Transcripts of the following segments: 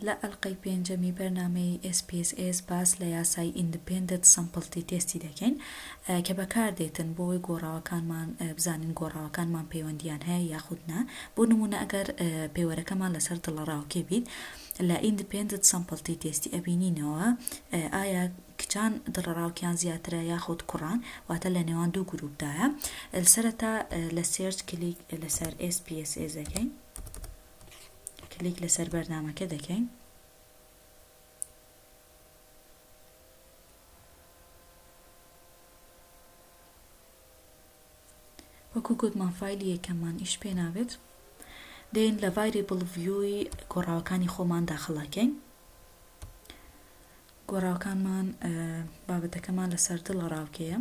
لە ئەلقەی پێنجەمی بەرنامەی ئێس پی ئێس ئێس باس لە یاسای ئیندپێندت سەمپڵتی تێستی دەکەین کە بەکار دێتن بۆوەی گۆڕاوەکانمان بزانین گۆڕاوەکانمان پەیوەندیان هەیە یاخود نا بۆ نمونە ئەگەر پێوەرەکەمان لەسەر دڵەڕاوکێ بیت لە ئیندپێندت سەمپڵتی تێستی ئەبینینەوە ئایا کچان دڵەڕاوکێیان زیاترە یاخود کوڕان واتە لە نێوان دوو گروپ دایە سەرەتا لە سێرچ کلیک لەسەر ئێس پی ئێس ئێس دەکەین. کلیک لەسەر بەرنامەکە دەکەین وەکو گوتمان فایلی یەکەممان ئیش پێ نابێت دێن لە ڤایری بڵڤیوی گۆڕاوەکانی خۆمان داخڵاکەین گۆڕاوەکانمان بابەتەکەمان لەسەر دڵە ڕاوکەیە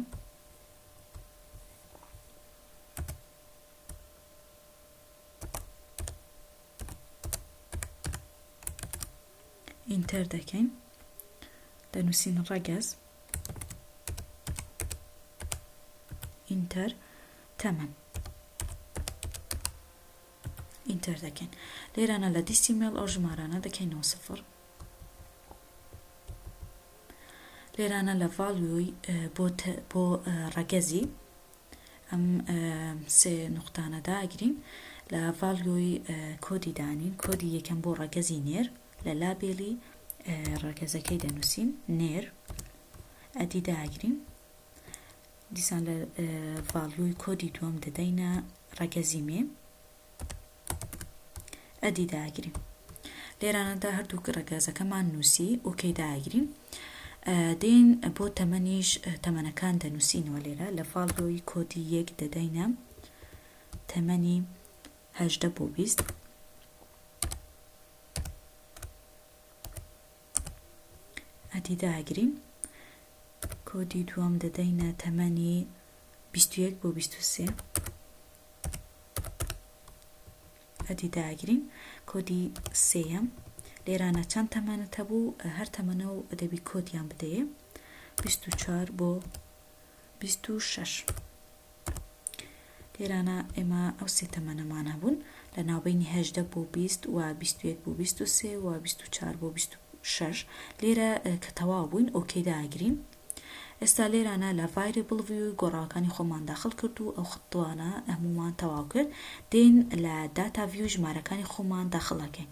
ئینتەر دەکەین دەنووسین ڕەگەز ئینتەر تەمەن ئینتەر دەکەین لێرانە لە دیستی مێڵ ئەو ژمارانە دەکەینەوە سفر لێرانە لە ڤاڵوی بۆ ڕەگەزی ئەم سێ نوقتانە داگرین لە ڤالیۆی کۆدی دانین کۆدی یەکەم بۆ ڕەگەزی نێر لە لابێلی ڕەگەزەکەی دەنووسین نێر ئەدی داگرین دیسان لە ڤالیۆی کۆدی دووەم دەدەینە ڕەگەزی مێ ئەدی داگریم لێرانەدا هەردوو ڕەگەزەکەمان نووسی ئۆکەی داگرین دێن بۆ تەمەنیش تەمەنەکان دەنووسینەوە لێرە لە فاڵۆی کۆدی یەک دەدەینە تەمەنی هەژدە بۆ بیست ئەدی داگرین کۆدی دووەم دەدەینە تەمەنی بیست و یەک بۆ بیست و سێ ئەدی داگرین کۆدی سێیەم لێرانە چەند تەمەنت هەبوو هەر تەمەنە و ئەدەبی کۆدیان بدەیە بیست و چوار بۆ بیست و شەش. لێرانە ئێمە ئەو سێ تەمەنەمان هەبوون لە ناوبەینی هەژدە بۆ بیست و بیست و یەک بۆ بیست و سێ و بیست و چوار بۆ بیست و شەش لێرە کە تەواو بووین ئۆکەی داگرین ئێستا لێرانە لە ڤایرێبڵ ڤیوی گۆڕاوەکانی خۆمان داخل کرد و ئەو خطوانە هەموومان تەواو کرد دێین لە داتا ڤیو ژمارەکانی خۆمان داخڵ ئەکەین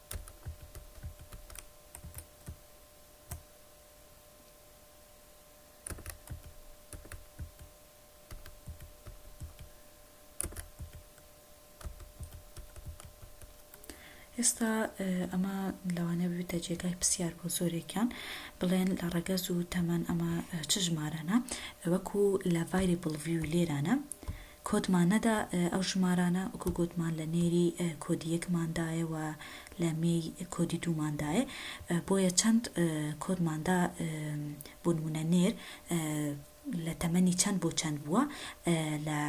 ئێستا ئەمە لەوانەیە ببێتە جێگای پرسیار بۆ زۆرێکیان بڵێن لە ڕەگەز و تەمەن ئەمە چ ژمارانە وەکو لە ڤایری بڵڤی و لێرانە کۆدمان نەدا ئەو ژمارانە وەکو گۆتمان لە نێری کۆدی یەکمان دایە وە لە مێی کۆدی دوومان دایە بۆیە چەند کۆدمان دا بۆ نمونە نێر لە تەمەنی چەند بۆ چەند بووە لە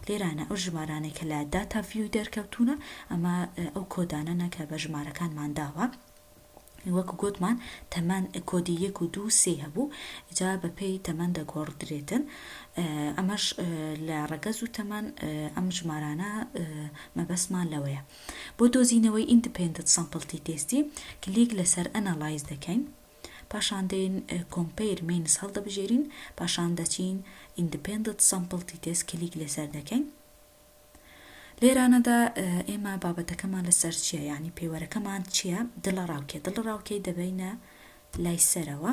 لێرانە ئەو ژمارانەی کە لە داتا ڤیوی دەرکەوتونە ئەمە ئەو کۆدانەنە کە بە ژمارەکانمان داوە. وەکو گۆتمان تەمەن کۆدی یەک و دوو سێی هەبوو جا بە پێی تەمەن دەگۆڕدرێتن ئەمەش لە ڕەگەز و تەمەن ئەم ژمارانە مەبەسمان لەوەیە بۆ دۆزینەوەی ئیندپندت سەمپڵتی تێستی کلیک لەسەر ئەنەڵایز دەکەین پاشان دێن کۆمپیر مینس هەڵدەبژێرین پاشان دەچین ئیندپندت سەمپڵتی تێست کلیک لەسەر دەکەین لێرانەدا ئێمە بابەتەکەمان لەسەر چیە یانی پێوەرەکەمان چیە دڵە ڕاوکێ دڵە ڕاوکێی دەبەینە لای سەرەوە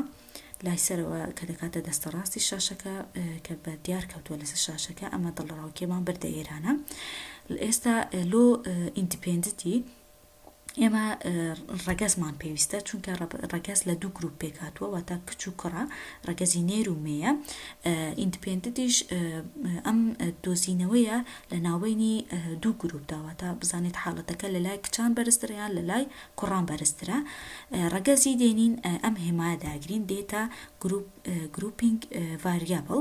لای سەرەوە کە دەکاتە دەستە ڕاستی شاشەکە کە بە دیار کەوتووە لەسەر شاشەکە ئەمە دڵە ڕاوکێمان بردە ئێرانە ئێستا لۆ ئیندیپندنتی ئێمە ڕەگەزمان پێویستە چونکە ڕەگەز لە دوو گروپ پێکاتوە واتە کچ و کوڕە ڕەگەزی نێر و مێە ئیندپندنتیش ئەم دۆزینەوەیە لە ناوبینی دوو گروپ داواتە بزانێت حاڵەتەکە لە لای کچان بەرزتریان لە لای کوڕان بەرزترە ڕەگەزی دێنین ئەم هێما داگرین دێتە گروپ گروپینگ ڤریابڵ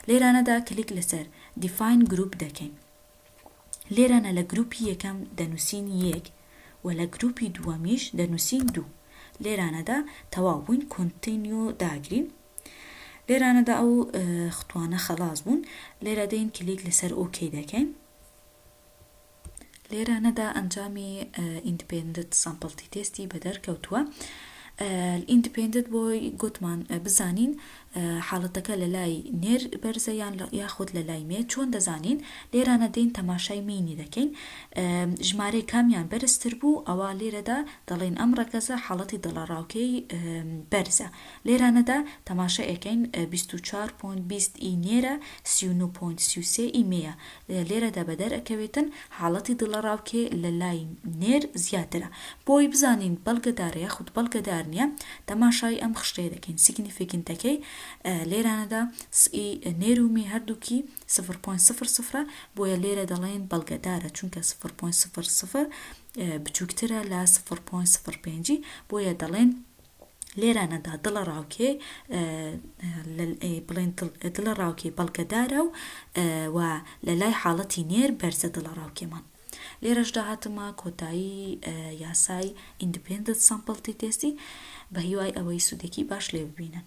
لێرانەدا کلیک لەسەر دیفاین گروپ دەکەین لێرانە لە گروپی یەکەم دەنوسین یەک و لە گروپی دووەمیش دەنوسین دوو لێرانەدا تەواو بووین کۆنتینیۆ داگرین لێرانەدا ئەو ختوانە خەڵاس بوون لێرە دێین کلیک لەسەر ئۆکەی دەکەین لێرانەدا ئەنجامی ئیندپندت سامپڵتی تێستی بەدەرکەوتووە ئیندپندت بۆی گوتمان بزانین حاڵەتەکە لە لای نێر بەرزە یان یاخود لە لای مێ چۆن دەزانین؟ لێرانە دێین تەماشای مینی دەکەین ژمارەی کامیان بەرزتر بوو ئەوا لێرەدا دەڵێین ئەم ڕەگەزە حاڵەتی دڵەڕاوکێی بەرزە لێرانەدا تەماشای ئەکەین بیست و چوار پۆینت بیست ی نێرە سی و نۆ پۆینت سی و سێ ی مێیە لێرەدا بەدەرئەکەوێتن حاڵەتی دڵەڕاوکێ لە لای نێر زیاترە. بۆ ئەوەی بزانین بەڵگەدارە یاخود بەڵگەدار نییە، تەماشای ئەم خشتەیە دەکەین، سیگنیفیکنتەکەی لێرانەدا س ی نێر و می هەردووکی سفر پۆینت سفر سفرە، بۆیە لێرە دەڵێین بەڵگەدارە، چونکە سفر پۆینت سفر سفر بچووکترە لە سفر پۆینت سفر پێنج، بۆیە دەڵێین. لێرانەدا دڵە ڕاوکێ بڵێن دڵە ڕاوکێ بەڵگەدارە و و لە لای حاڵەتی نێر بەرزە دڵە ڕاوکێمان لێرەشدا هاتمە کۆتایی یاسای ئیندپندنت سامپڵتی تێستی بە هیوای ئەوەی سوودێکی باش لێ ببینن